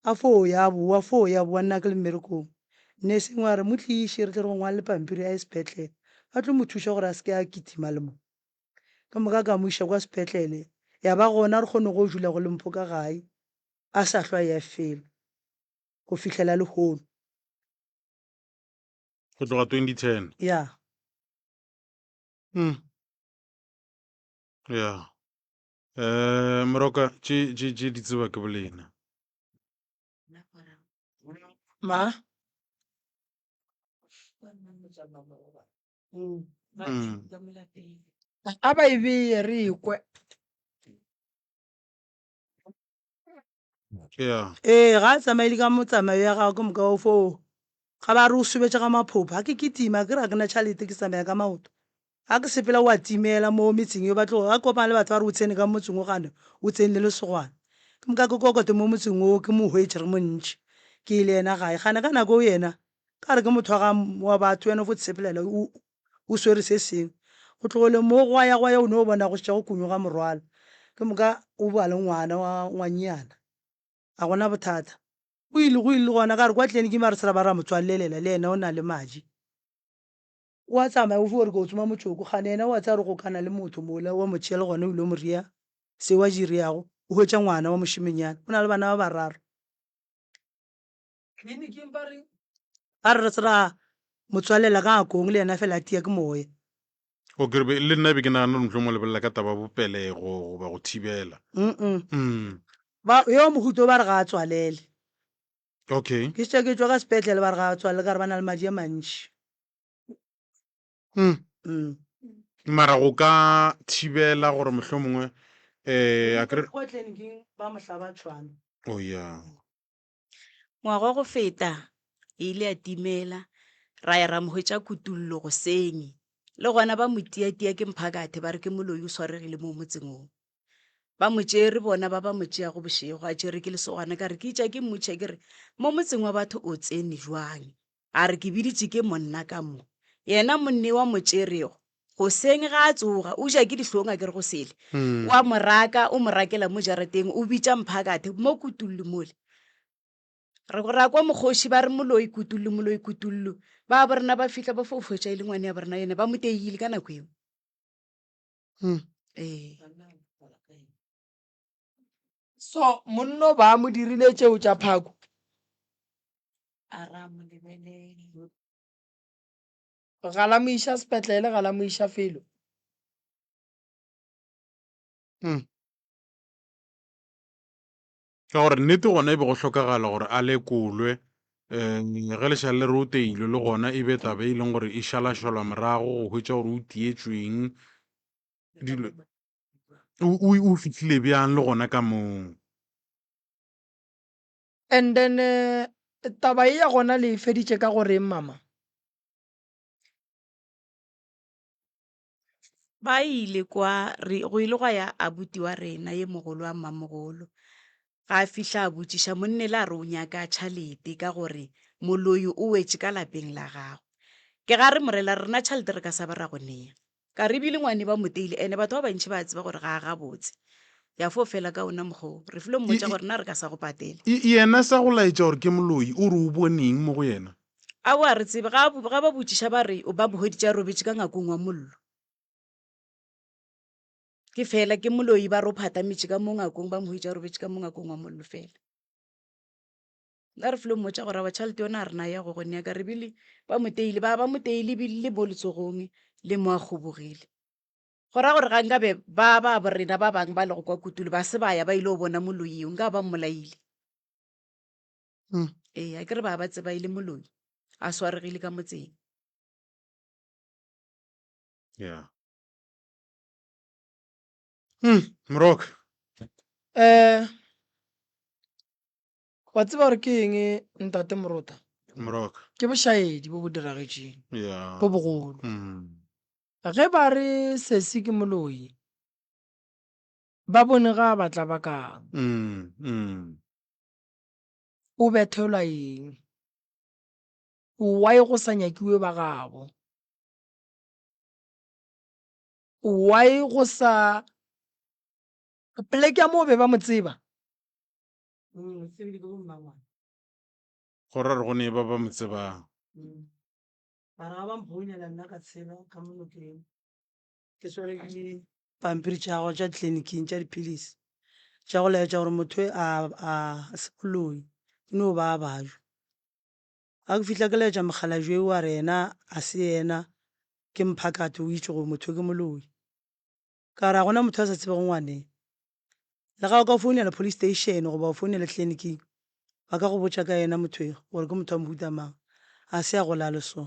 A fo o ya bowa, fo o ya bowa, nna ke le mmerekong. Nursing wa re, Mo tliše, re tle re go ngwalele pampiri a ye sepetlele. Ba tlo mo thuša gore a se ke a kitima le mo. Ka moka ka mo iša kwa sepetlele, ya ba gona re kgone go dula go le Mpho ka gae, a sa hlwa a eya felo go fihlela lehono. Go tloga 2010? Ya. Umm. Ya. Eh, moroka tše tše tše di tseba ke bolena ma Mm. a ba e beye re ekwe ee ga a tsamaele ka motsamayo ya gago ke moka o foo ga ba re o sobetša ga maphopho ga ke kitima ke ra ke na tšhalete ke tsamaya ka maoto ga ke sepela wa timela mo metseng yo batlogo ga kopana le batho ba re o tshene ka motseng o gane o tsene le lesogwana ke moka ke kokote mo motseng oo ke mo hwetše re montši ke le yena gae gane ka nako o yena ka re ke motho wa batho wena fo tshepelela o swere se sengwe. Go tlogele moo gwa ya gwa ya o ne o bona go šetša go kunywa ga morwalo. Ke moka o ba le ngwana wa ngwanyana. A gona bothata. Go ile go ile gona ka re kwa tleleniking ba re se ra ba ra mo tswalelela le ena o na le madi. O a tsamaya o fiwa gore ke o tsoma motšoko. Kgane yena o a tsaya gore go ka na le motho mola wa mo tšea le gona o ile mo rea seo a di reago. O hwetša ngwana wa mošemanyana. O na le bana ba bararo. kliniking ba re ba re ra motswalela ka ngakong le yena fela a tia ke moya o kerebe le nna be ke nagana motlo mo lebelela ka taba bopelego goba go thibela mm. ba yo mohuto ba re ga a tswalele okay ke tša ke tšwa ka sepetlele ba re ga a tswalele ka re ba na le madi a mantši mm. mm. mara go ka thibela gore mohlho mongwe um a kere ba mohlaba tšhwana o oh, ya yeah. Ngwaga wa go feta e ile ya timela, ra ya ra mo hwetša kutollo goseng. Le gona ba mo tiatia ke mphakathe ba re ke moloi o swaregile mo motseng o. Ba mo tšere bona ba ba mo tšeago bošego a tšere ke lesogana ka re ke itša ke mmotšiša ke re mo motseng wa batho o tsene jwang. A re, Ke biditše ke monna ka mo, yena monnee wa mo tšerego. Goseng ge a tsoga, o ja ke dihlong a ke re go sele. O a mo raka, o mo rakela mo jarateng, o bitša mphakathe, mo kutullu mole. Re go ra kwa mokgoši ba re, Moloi kutullu, moloi kutullu. Ba bo rena ba fihla ba fo hwetša e le ngwane ya bo rena yone, ba mo teile ka nako yeo. Ee. so monno ba mo dirile tšeo tša phako ga la mo iša sepetlele ga la mo iša felo hmm. ka gore nnete gona e be go hlokagala gore a lekolwe um ge lešale le re o teilwe le gona e be tabe e leng gore e šalašola morago go hwetša gore o tietsweng dilo o fihlile bjang le gona ka moo and then eh, taba e ya gona le e feditše ka goreng mama ba ile kwa re go ile gwa ya abuti wa rena ye mogolo wa mmamogolo ga a fihla a botšiša monne le a re o nyaka tšhalete ka gore moloi o wetše ka lapeng la gago ke ga re morela rena tšhalete re ka sa ba ra go nea Karibi le ngwane ba mo teile ene batho ba bantši ba a tseba gore ga a gabotse. Ya fo fela ka ona mokgwa wo. Re filo mmotša gore na re ka sa go patela. Y yena sa go laetša gore ke moloi, o re o bone eng mo go yena? Aowa a re tsebe. Ga a, ga ba botšiša ba re o ba bohweditše a robetše ka ngakong wa mollo. Ke fela, ke moloi ba re o phatametše ka mo ngakong, ba mo hweditše a robetše ka mo ngakong wa mollo fela. la re flo mmotša gore awa tšhalete yona a re naya go gone yaka re bile ba moteile ba ba moteile bile mo letsogong le mo a kgobogile go ra gore ga nkabe ba ba borena ba bangwe ba lego kwa kutulo ba se ba ya ba ile go bona moloi eo nka ba mmolaile hmm. ee a ke re ba ba tseba e le moloi a swaregile ka motseng yeah hmm, mrok um eh, Wa tseba gore ke eng, Ntate Moroka? Moroka. Ke bošaedi bo bo diragetšeng, Yeah. bo bogolo. Ge ba re Sesi ke moloi, ba bone ga a batla ba kang. Mm, mm. O bethelwa eng? Why go sa nyakiwe ba gabo? Why go sa poleke ya moo be ba mo tseba? Go ra re go ne ba ba mo tsebang. Ba ra ba mphounela nna ka tshela ka mo nokeng. Ke swere ke pampiri tša gagwe tša tleliniking tša dipilisi tša go laetša gore motho e a a se boloi ke no ba a bajwa. Ga ke fihla ke laetša mokgalajwe yo a re yena a se yena ke mphakate o itše gore motho ke moloi. Ka re, Ga go na motho a sa tsebego ngwane. Le ga o ka founela police station goba wa founela tliliniking, ba ka go botša ka yena motho yo gore ke motho wa mohuta mang. Ga se a gola a le so.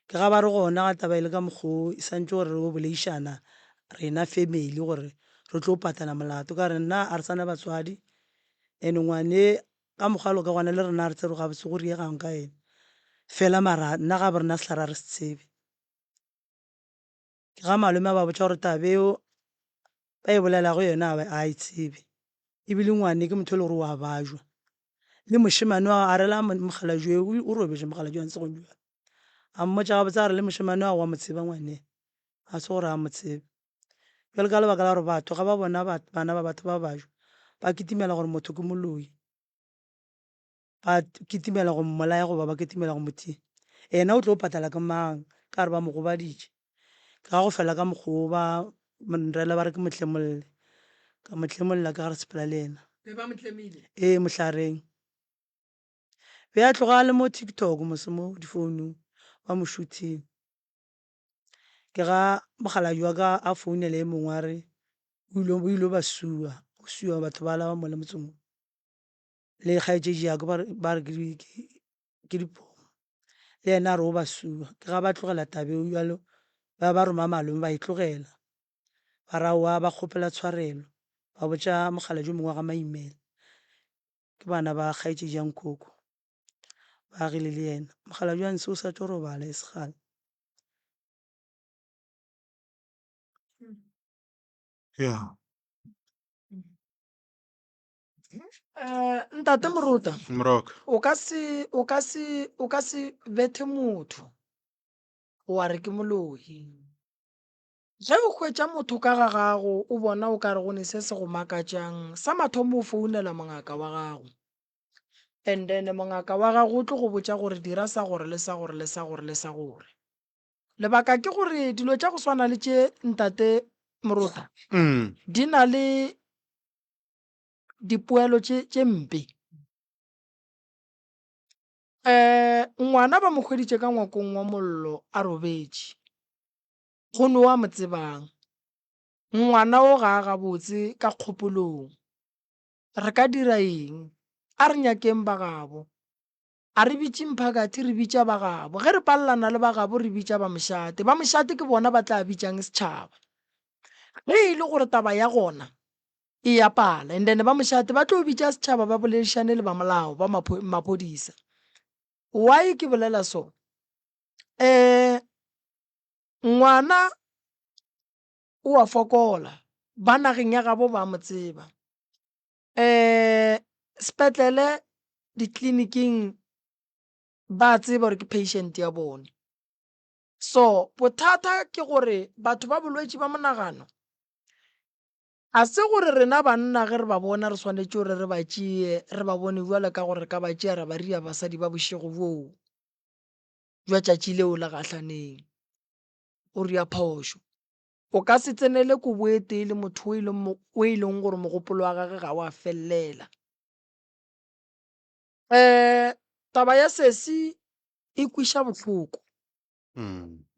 Ke ga ba re gona ga taba e le ka mokgwa o, e swantšwe gore re yo boleišana rena family gore re tlo patana molato. Ka re, Nna ga re sa na batswadi and ngwane ka mokgwa bjalo ka gona le rena ga re tsebe gore gabotse go riegang ka yena. Fela mara nna ga bo rena sehlara ga re se tsebe. Ke ga malome a ba botša gore taba eo ba e bolelago yona a ba a e tsebe, e bile ngwane ke motho e le gore o a bajwa. Le mošemane wa a rela mokgalajwe o robetše mokgalajwe wa Nsegong bjale. A mmotša gabotse a re le mošemane wa go wa mo tseba ngwane, a se gore a mo tsebe. Bjale ka lebaka la gore batho ga ba bona bana ba batho ba bajwa ba kitimela gore motho ke moloi. ba kitimela go mmolaya goba ba kitimela go motia yena o tlo patala ke mang ka gore ba mo gobaditše ga go fela ka mokgoo ba mrela ba re ke mohlemolle ka mohlemolla ka gare sepela le yena ee mohlareng be a tloga a le mo tiktok mose mo difounung ba mo shuthing ke ga mokgaladi wa ka a founele e mongwe a re o ile ba sua go sua batho ba laba mo le motseng le kgaetšedi ya ka ba re ke dipomo le yena a re o ba sua ke ga ba tlogela tabeo jalo ba ba roma malome ba e tlogela ba ra wa ba kgopela tshwarelo ba botša mogala jo mongwe wa ga maimela ke bana ba kgaetšedi ya nkoko ba agile le yena mogala jo a nse o sa tlo robala e segala ya um ntate morota moroka o ka se o ka se o ka se bethe motho wa re ke moloi ge o hwetša motho ka ga gago o bona o ka re go ne se se go makatšang sa mathomo o founela mongaka wa gago and then mongaka wa gago o tlo go botša gore dira sa gore le sa gore le sa gore le sa gore lebaka ke gore dilo tša go swana le tše ntate morota mm di na le dipoelo tše tše mpe eh ngwana ba mo hweditše ka ngwakong wa mollo a robetše go no wa mo tsebang ngwana o ga a gabotse ka kgopolong re ka dira eng a re nyakeng ba gabo A re bitše mphakathi, re bitša ba gabo. Ge re palelana le ba gabo, re bitša ba mošate. Ba mošate ke bona ba tla bitšang setšhaba. Ge e le gore taba ya gona e ya pala, and then ba mošate ba tlo bitša setšhaba ba boledišane le ba molao, ba maphodisa. Why ke bolela so? Um ngwana o a fokola, ba nageng ya gabo ba mo tseba. um sepetlele ditleliniking ba tseba gore ke patient ya bone so bothata ke gore batho ba bolwetši ba monagano a se gore rena banna ge re ba bona re swanetše gore re ba tšeye re ba bone jwalo ka gore re ka ba tšea ra ba ria basadi ba bošego bjoo jwa tšatši leo la gahlaneng o ria phošo O ka se tsenele kobo e tee le motho o e leng, o e leng gore mogopolo wa gage ga o a felelela. Eh, taba ya sesi e kwiša bohloko.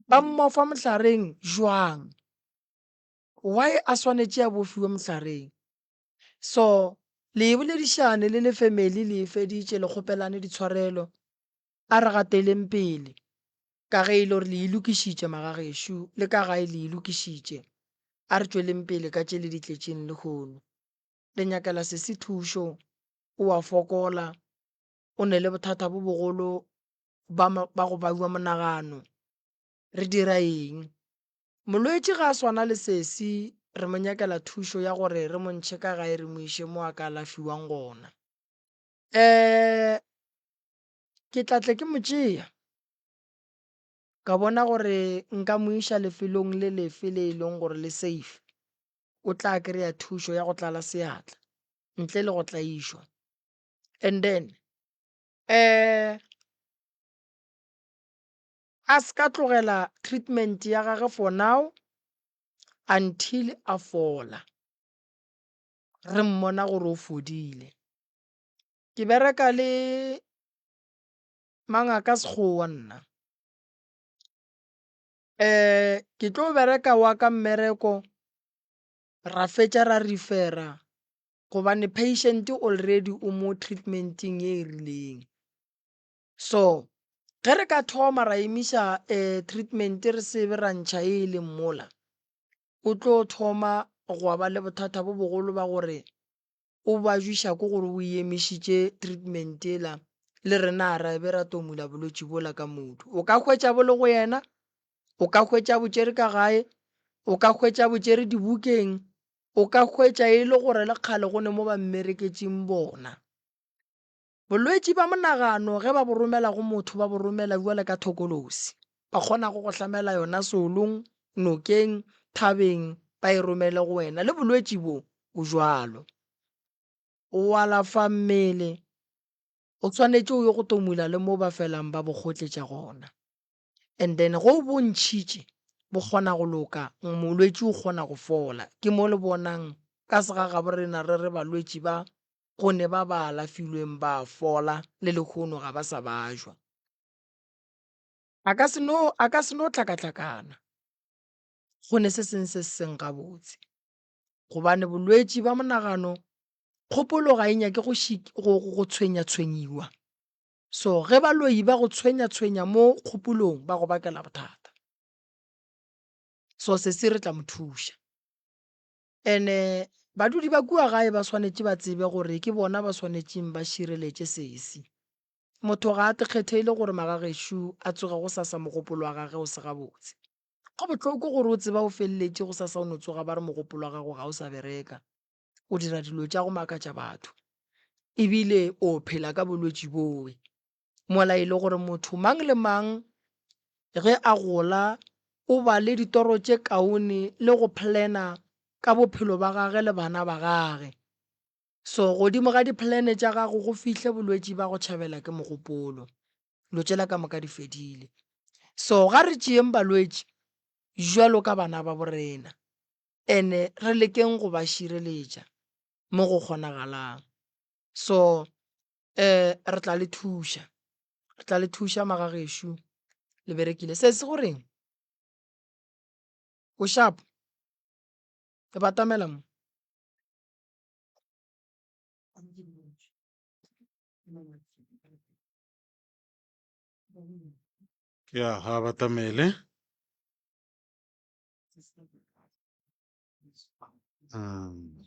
Ba mmofa mohlareng jwang? Why a swanetše a bofiwe mohlareng? So, le e boledišane le le family le e feditše, le kgopelane ditshwarelo. A re gateleng pele, ka ge e le gore le e lokišitše, magagešo, le ka gae le e lokišitše. A re tšweleng pele ka tše le di tletšeng lehono. Le nyakela sesi thušo, o a fokola, o ne le bothata bo bogolo ba, ba go baiwa monagano. Re dira eng? Molwetši ga a swana le sesi, re mo nyakela thušo ya gore re mo ntšhe ka gae re mo iše mo a ka alafiwang gona. Ee, ke tla tle ke mo tšea ka bona gore nka mo iša lefelong le lefe le e leng gore le safe o tla kry-a thušo ya go tlala seatla ntle le go tlaišwa and then um a se ka tlogela treatment ya gage for now until a fola re mmona gore o fodile Ke bereka le mangaka sekgowa nna um ke tlo bereka wa ka mmereko ra fetša ra refera gobane patient already o mo treatmenteng e e rileng so ge re ka thoma ra emiša um treatment re sebe ra ntšha e e leng mola o tlo thoma gwa ba le bothata bo bogolo ba gore o bajwiša ko gore o emišitše treatment ela le rena ra be ra tomula bolwetši bola ka modu o ka hwetša bo le go yena o ka hwetša botšere ka gae o ka hwetša botšere dibukeng o ka hwetša e le gore le kgale go ne mo ba mmereketseng bona Bolwetši bja monagano ge ba bo romela go motho ba bo romela bjale ka thokolosi. Ba kgonago go hlamela yona seolong, nokeng, thabeng ba e romele go wena. Le bolwetši bo bo bjalo. O alafa mmele, o swanetše o ye go tomula le mo ba felang ba bo kgotletša gona. And then ge o bo ntšhitše bo kgona go loka, molwetši o kgona go fola. Ke mo le bonang ka segagabo rena re re balwetši ba gonne ba ba alafilweng ba a fola le lehono ga ba sa bajwa. A ka se no, a ka se no hlakahlakana go ne se seng se se seng gabotse, gobane bolwetši ba monagano kgopolo ga e nyake go, go, go tshwenyatshwenyiwa. So ge baloyi ba go tshwenyatshwenya mo kgopolong ba go bakela bothata. So sesi re tla mo thuša. Ene badudi ba kua gae ba swanetše ba tsebe gore ke bona ba swanetšeng ba šireletše sesi. Motho ga a tekgetheile gore magagešo a tsoge go sasa mogopolo wa gage o se gabotse. Go bohloko gore o tseba o feleletše go sasa o no tsoga ba re mogopolo wa gago ga o sa bereka, o dira dilo tša go makatša batho, ebile o phela ka bolwetši bowe. mola e le gore motho mang le mang ge a gola o ba le ditoro tše kaone le go plana ka bophelo ba gage le bana ba gage. So godimo ga diplane tša gago go fihle bolwetši ba go tšhabela ke mogopolo. Lo tšela ka moka di fedile. So ga re tšeyeng balwetši jwalo ka bana ba borena ene re lekeng go ba šireletša mo go kgonagalang. So Eh, re tla le thuša. Re tla le thuša, magagešo. Le berekile. Se se goreng? O shapo? Re batamela mo. ya ga batamele Mm.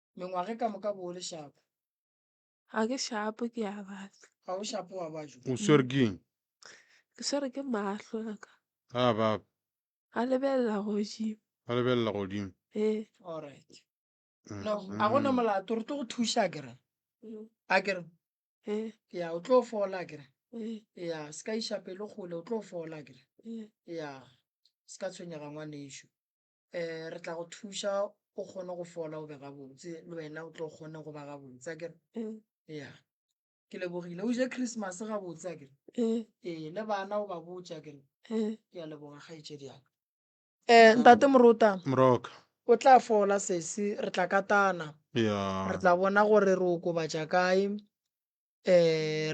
Mengwaga e ka moka bo o le shapo. Ga ke shapo ke a batla. Ga o shapo wa bajo. O swere keng? Ke swere ke mahlo a ka. Ga a baba. A lebelela godimo. A lebelela godimo. Ee. Alright. No, a go na molato re tlo go thuša a kere. A kere. Ee. Ya, o tlo fola a kere. Ee. Ya, se ka iša pelo kgole o tlo fola a kere. Ee. Ya, se ka tshwenyega ngwanešu. um re tla go thuša o kgone go fola o be gabotse le wena o tlo kgone go ba gabotse a kere Mm. ya ke lebogile o je christmas gabotse a kere Mm. ee le bana o ba botša kere Mm. ke a leboga kgaetšedi yaka um ntate morota moroka o tla fola sesi re tla katana ya re tla bona gore re okobatša kae um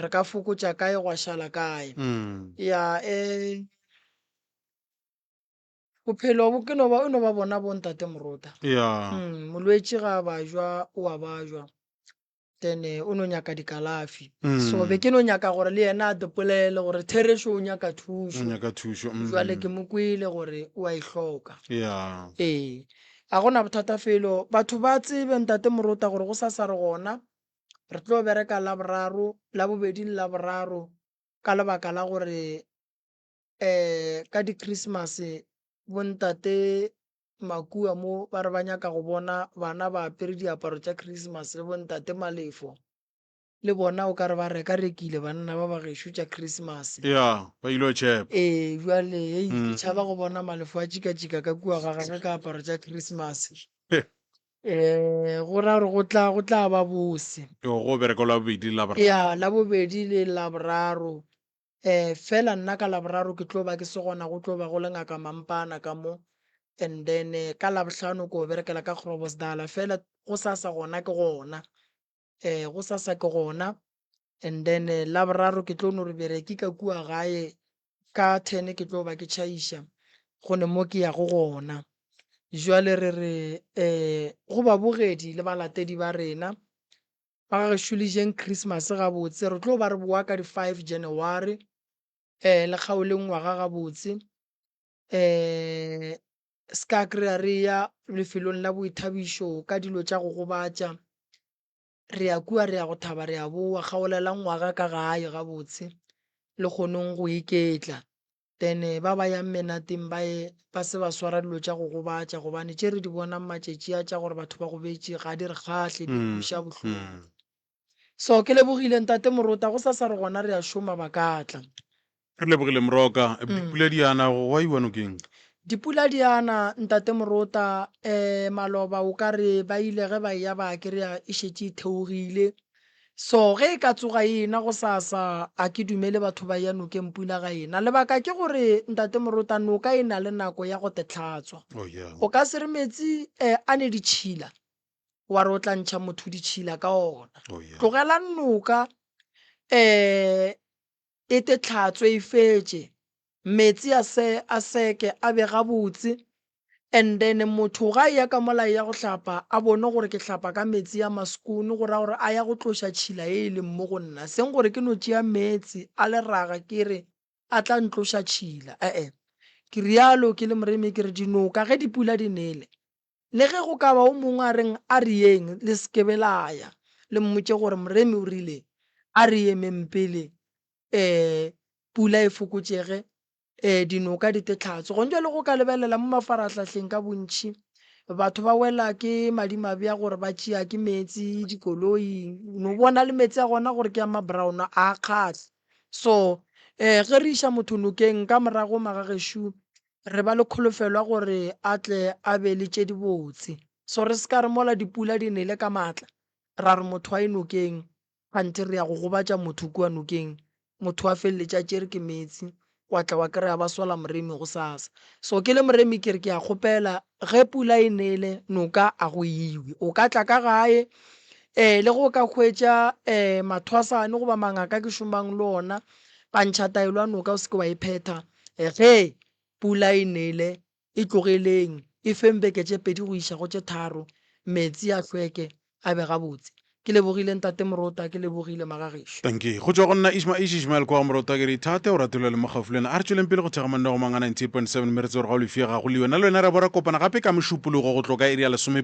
re ka fokotša kae gwa šala kae Mm. ya um bophelo bo ke no ba o no ba bona bo ntate morota ya mm, molwetši ga a bajwa o a bajwa then eh, o no nyaka dikalafi Mm. so be ke no nyaka gore le yena a dipolele gore therešo o nyaka o thušo nyaka thušo mm. jwale ke mo kwele gore o a e hloka ya ee a gona bothata felo batho ba tsebe ntate morota gore go sa sa re gona re tlo bereka la boraro la bobedi le la boraro ka lebaka la gore Ka di-Christmas bo ntate makua mo ba re ba nyaka go bona bana ba apere diaparo tša Christmas le bo ntate Malefo le bona o ka re ba reka rekile banna ba ba gešo tša Christmas. Ea ba ilo tšhepa. Ee jwale hei ke tšhaba go bona Malefo a tšika tšika ka kua ga gagwe ka aparo tša Christmas. Go ra gore go tla go tla ba bose. Go bereko la bobedi la boraro. Ea la bobedi le la boraro Eh, fela nna ka Laboraro ke tlo ba ke se gona, go tlo ba go le Ngaka Mampana ka mo. And then eh, ka Labohlano ko berekela ka Grobosdala, fela go sasa gona ke gona. Eh, go sasa ke gona. And then eh, Laboraro ke tlo no re bereki ka kua gae, ka ten ke tlo ba ke tšhaiša, go ne mo ke yago gona. Jwale re re eh, go babogedi le balatedi ba rena, Ba ga gešo le jeng Christmas gabotse. Re tlo ba re boa ka di five January. Eh, le kgaole ngwaga gabotse. Eh, ska kry-a re ya lefelong la boithabišo ka dilo tša go gobatša. Re ya kua re ya go thaba re ya boa. Kgaolela ngwaga ka gae gabotse le kgonong go iketla. Then ba ba yang menateng ba ye ba se ba swara dilo tša go gobatša gobane tše re di bonang matšetši a tša gore batho ba gobetše ga di re kgahle di re kweša bohloko. So ke lebogile ntate Morota go sa sa re gona re a šoma ba ka tla. Re lebogile Moroka. Dipula di a na go wa iwa nokeng? Dipula di a na ntate Morota eh maloba o ka re ba ile ge ba eya ba kry-a e šetše e theogile. So ge e ka tsoga e ena gosasa, a ke dumele batho ba eya nokeng pula ga ena. Lebaka ke gore, Ntate Morota, noka e na le nako ya go te hlatswa. Oh, yeah. O ka se re metsi eh, a ne ditšhila, wa re o tla ntšha motho ditšhila ka ona. Oh, yeah. Tlogelang noka eh, Ete tlhatso e fetše, meetse a se a seke a be gabotse, and then motho ga eya ka mola eya go hlapa a bone gore ke hlapa ka meetse a maskoon go raya gore a ya go tloša tšhila ye e leng mo go nna, seng gore ke no tšea meetse a leraga ke re a tla ntloša tšhila, ee ke realo ke le Moremi ke re dinoka ge dipula di nele Le ge go ka ba o mongwe a reng, A re yeng, le se ke be la ya, le mmotše gore, Moremi o rile, A re emeng pele ee pula e fokotšege, ee dinoka di te tlhatso. Gona bjale go ka lebelela mo mafarahlahleng ka bontši, batho ba wela ke madimabe a gore ba tšea ke meetse dikoloing, no bona le meetse a gona gore ke a ma-brown, a a kgahle. So, ee ge re iša motho nokeng, ka morago magagešo Re ba le kholofelo ya gore a tle a be le tše dibotse. So re se ka re mola dipula di nele ka matla, ra re motho a ye nokeng, kganthe re ya go gobatša motho kua nokeng, motho a feleletše a tšere ke meetse, wa tla wa kry-a ba sola moremi gosasa. So ke le moremi ke re ke a kgopela ge pula e nele noka a go iwe, o ka tla ka gae um le ge o ka hwetša um mathwasane goba mangaka ke šomang le ona, pantšhataelo ya noka o se ke wa e phetha. Ge pula e nele, e tlogeleng e feng beke tše pedi go iša go tše tharo, meetse a hlweke, a be gabotse. Ke lebogile Ntate Morota, ke lebogile Magagešo. Dankie. Go tšwa go nna Ishma Ish Ishmael kwa go Morota ke re ithate, o ratile le mo gaufi le wena. A re tšweleng pele go thekga Monne go Manga 98.7 Meretse gore ga o lefie ga go le yona le wena re a bo ra kopana gape ka Mošupologo go tlo ka iri ya lesome